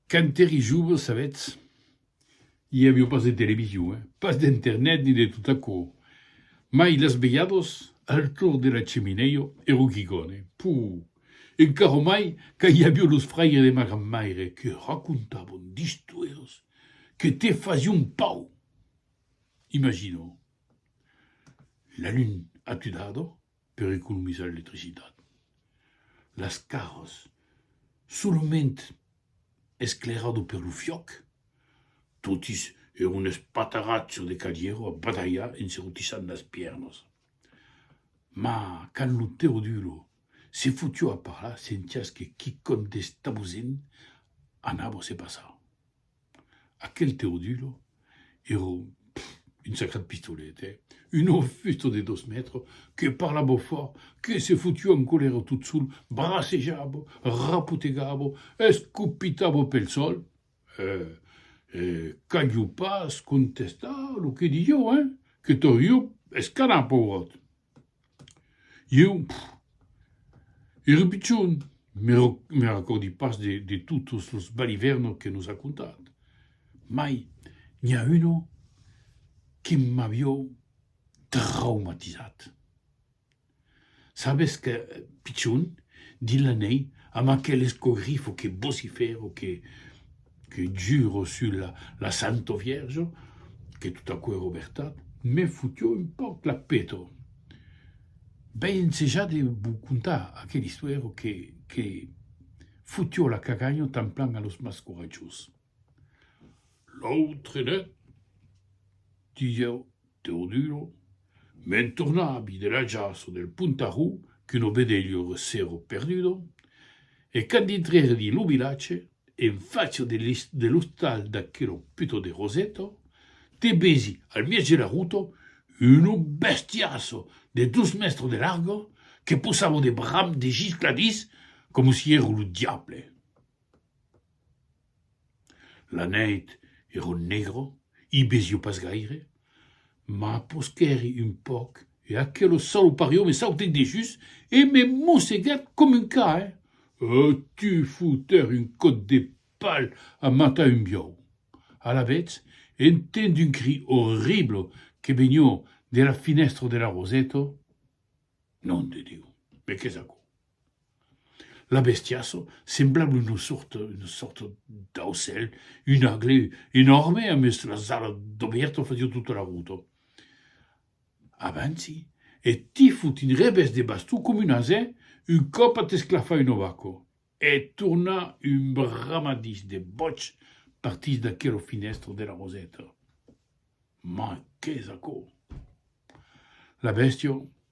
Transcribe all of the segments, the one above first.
Quand èri jove, sabètz, i aviá pas de television, eh? pas d'internet ni de tot aquò, mai las velhadas al torn de la cheminèia ero quicòne, puu! e caro mai quand i aviá los fraires de ma grand-maire que racontavan d'istoires que te fasián pau! Imagina, la luna atudada, per economizar l'electricitat. Las caras, solament esclairado per lo fiòc, totis èron espatarrats sus de cadièras a badalhar en se rotissant las pièrnas. Ma quand lo Teodulo se fotió a parlar, sentiás que quicòm d'estabosent anava a se passar. Aquel Teodulo era un sacrat pistolet, eh? Un aufusto de dos mètres que parlava fòrt, que se fotia en colèra tot sol, bracejava, rapotegava, escopitava pel sòl, e e calhou pas contestar lo que diieu, eh? Que torriu escanar, pauvròt! Ieu, era pichon, me recòrdi pas de totes los balivèrnos que nos a contat, mai n'i a uno que m'avió traumatizat. Sabes que, pichon, dins la nèi, amb aquel escogrifo que vocifèra, que. Que juro sus la la santo vierjo que tot aquò èro vertat, me fotió un pauc la peto. V'ai ensejat de vos contar aquel istuèro que que fotió la caganha tanplan a los mas coratjós. L'autre net, disieu Teodulo, me'n tornavi de l'ajaço del Puntarrou qu'un obedelho recero perdudo, e quand dintrèri dins lo vilatge, En facia de l'ostal d'aquero puto de Roseto, te vesi, al mièg de la ruta, uno bestiasso de dos mèstres de larga que posava de bram de giscladís coma si èra lo diable. La nèit èra negra, i vesiá pas gaire. M'apusquèri un pauc e aquelo salopario me sautèt dejús e me mossegèt com un ca, eh? E tu foutèri un còp de pal a matar un biau! Alavetz, entenc un cri orrible que venió de la finèstra de la Roseto, Nom de Diu, me qu'es aquò? La bestiaso semblable una sorta una sorta d'aucèl, un agle enòrme amb es las alas dobèrta fasiá tota la rota. Avanci e ti fot un revés de baston coma un asè un còp a t'esclafar un ovaco e torna un bramadís de bòig partís d'aquela finèstra de la roseta. Mai, qu'es aquò? La bèstia.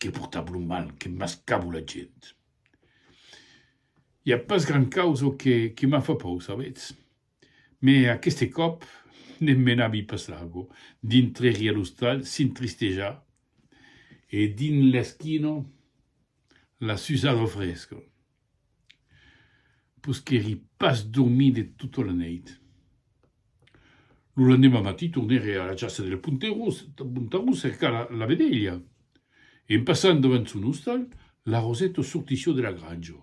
Que portava lo mal, que mascava la gent. I a pas gran causa que, que m'a fa paur, sabètz. Mè aqueste còp, ne menavi pas largo, dintrèri a l'ostal, s'intristejar, e dins l'esquina, la susada fresca. Posquèri pas dormir de tota la nèit. Lo lendemà matin tornèri a la chasa del Pontarrós cercar la vedelha. En passant davant son ostal, la Rosèto sortissió de la granja.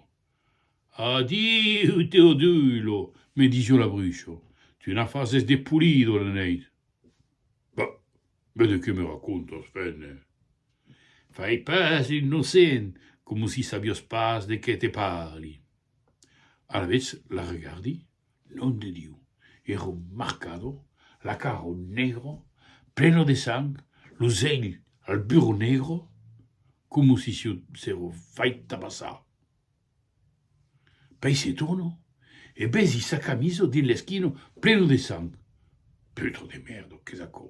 Adiu, Teodulo! me disió la Bruixa. Tu n'a fases de polida la nèit! Bah! Be de qué me racontas, Fènne? Fai pas l'innocent, coma si sabiós pas de qué te parli. Alavetz la regardi, non de Diu, ero marcado, la caro negro, pleno de sang, los elh al burro negro, coma si siu sero fait tabassar. Pei se torno e besi sa camiso dins l'esquino pleno de sang. Putro de merdo, qu'es aquò?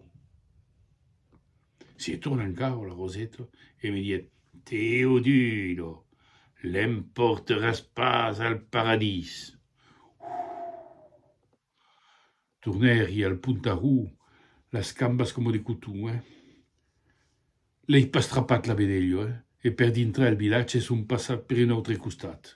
Se torna encara la Roseta e me diet, Teodulo, l'emporteràs pas al paradís! Uuh! Tornèri al pontarró, las cambas coma de coton, eh! L'ei pas trapat la vedelha, eh! E per dintrar el vilatge son passat per un autre costat.